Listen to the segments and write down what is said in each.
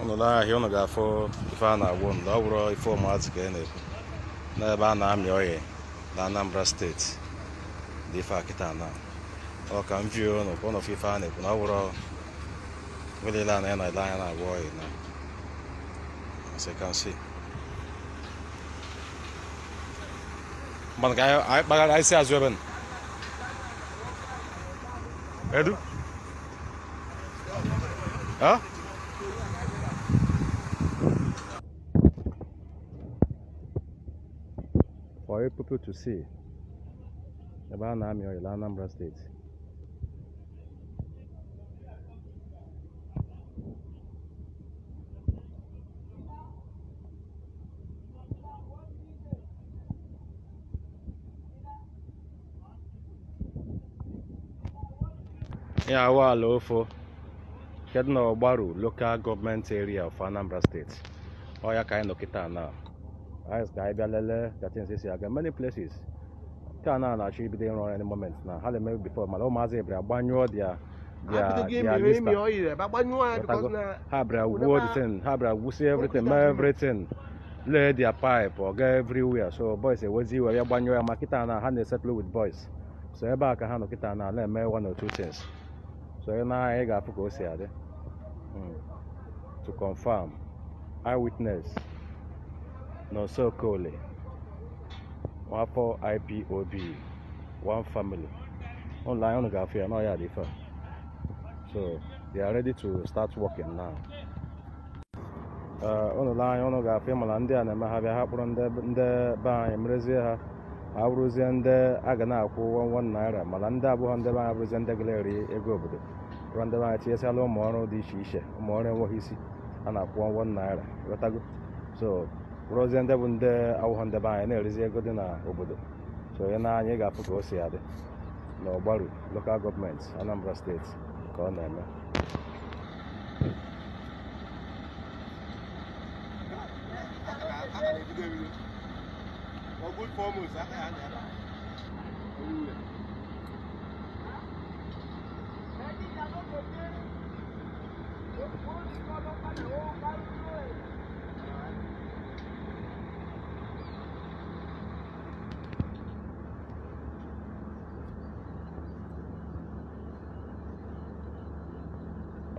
ụnụ lee anya ụnụ ga-afụ ife a na-agwa ụnụ ọ bụrọ ife ụmụazị ka a na-ekwu n'ebe a na-amị oil na Anambra steeti dị ife a kịta na ọ ka m vie ụnụ ka ụnụ fụ ife a na-ekwu na ọ bụrọ welele a na ya na ele anya na-agwọ ọya na as you can see mana ka anyị anyị kpagara anyị si azụ ebe nọ edu ha for you people to see ebe a na-amị oil na Anambra steeti ihe a wụ ala ofo nke dị n'ọgbaru lokal gọọmenti eria of anambra steeti ọ ya ka anyị nọ kịta na anyị ka anyị bịa lelee ka things si aga many places nke a na na-achọ ibido ịrụ ọrụ any moment na ha na-eme before mana ụmụazị ebere agbanyụọ dị ya their Abido gị their mịrị lista ịmị oil ebe agbanyụọ ya because na ha bịara Wụdebe- gwuo the thing ha bịara gwusie everything mee everything lay their pipe ọ gaa everywhere so boys ewezie iwe ya gbanyụọ ya ma kịta na ha na-esettle with boys so ebe a ka ha nọ kịta na na-eme one or two things so ị nee anya ị ga-afụ ka o si adị Mm. to confirm eyewitness Nọnso Okoli nwafọ ipob one family ụnụ lee anya ụnụ ga-afụ ya na ọ ya dị ife a so they are ready to start working now Eh, ụnụ lee anya ụnụ ga-afụ ị ma na ndị a na-eme ha bịa ha kpụrụ ndị ndị be anyị merezie ha ma abụrụzie ndị a ga na-akwụ ụgwọ nwa naira mana ndị abụghọ ndị be anyị abụrụzie ndị ga na-eri ego obodo ruo ndị be anyị e tinyesịa ha ụmụ ọrụ dị iche iche ụmụ ọrụ enweghị isi a na-akwụ ụgwọ nwa naira ghọtago so ruozie ndị bụ ndị awụghọ ndị be anyị na-erizi ego dị n'obodo so onye nee anya ọ ga-afụ ka o si adị na ọgbaru lokal gọọmenti anambra steeti ka ọ na-eme Thank you.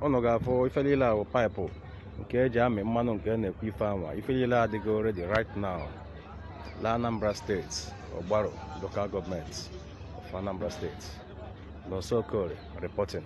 ụnụ ga-afụ ife niile ahụ paịpụ nke e ji amị mmanụ nke a na-ekwu ife anwa ife niile adịgo ready right now la Anambra steeti Ogbaru local gọọmenti of Anambra steeti Nọnso Okoli reporting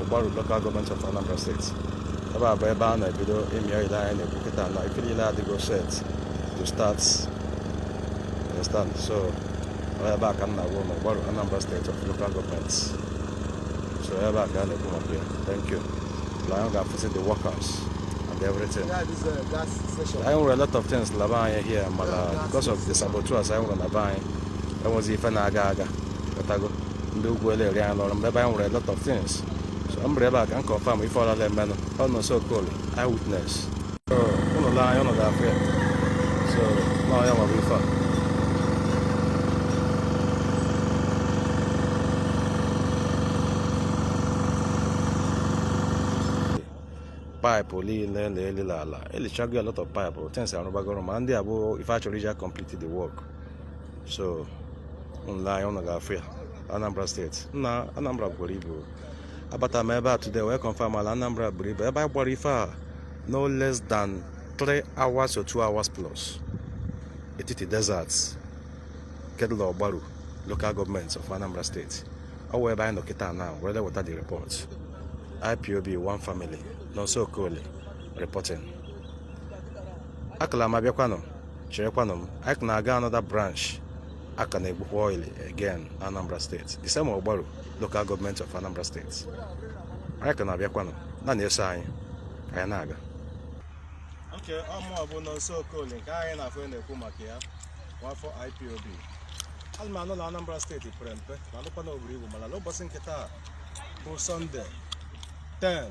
Ogbaru Local Government of Anambra State ebe a bụ ebe a na-ebido ịmị oil anyị na-ekwu kịta na ife niile adịgo set to start understand so ọ ebe a ka m na-agwa ụnụ Ogbaru Anambra State of Local Government so ebe a ka a na-ekwu maka ya thank you na anyị ga-afụsị the workers and everything Yeah, this uh, gas station. anyị nwere a lot of things la be anyị here mana because of the saboteurs anyị nwere na be anyị enwezi ife na-aga aga ghọtago ndị ugwu eleri anyị lọrọ mgbe be anyị nwere a lot of things so m bịara ebe a ka m confirm ife ọlala emenụ ọ Nọnso Okoli eye witness so ụnụ lee anya ụnụ ga-afụ ya so na ọ ya nwere ife a paịpụ niile na-eli la ala e lichago a lot of paịpụ things a rụbagoro ma ndị a bụ ife a chọrọ iji complete the work so ụnụ lee anya ụnụ ga-afụ ya Anambra steeti nna Anambra buru ibu abata m ebe a today wee confirm la Anambra buru ibu ebe anyị gbara ife a no less than 3 hours or 2 hours plus etiti desert nke dụ la Ogbaru local gọọmenti of Anambra steeti ọ wụ ebe anyị nọ kịta na were weta the report IPOB one family Nọnso Okoli reporting a ka la m abịakwanụ cherekwanụ m anyị ka na-aga another branch a ka na-egbukwa oil again na anambra steeti the same ogbaru local gọọmenti of anambra steeti anyị ka na-abịakwanụ na na-eso anyị ka anyị na-aga nke ọ mụa bụ Nọnso Okoli nke anyị na-afụ na-ekwu maka ya nwafọ ipob ana m anụ na anambra steeti pere mpe m alụkwa na o buru ibu mana n'ụbọchị nke taa bụ sọnde 10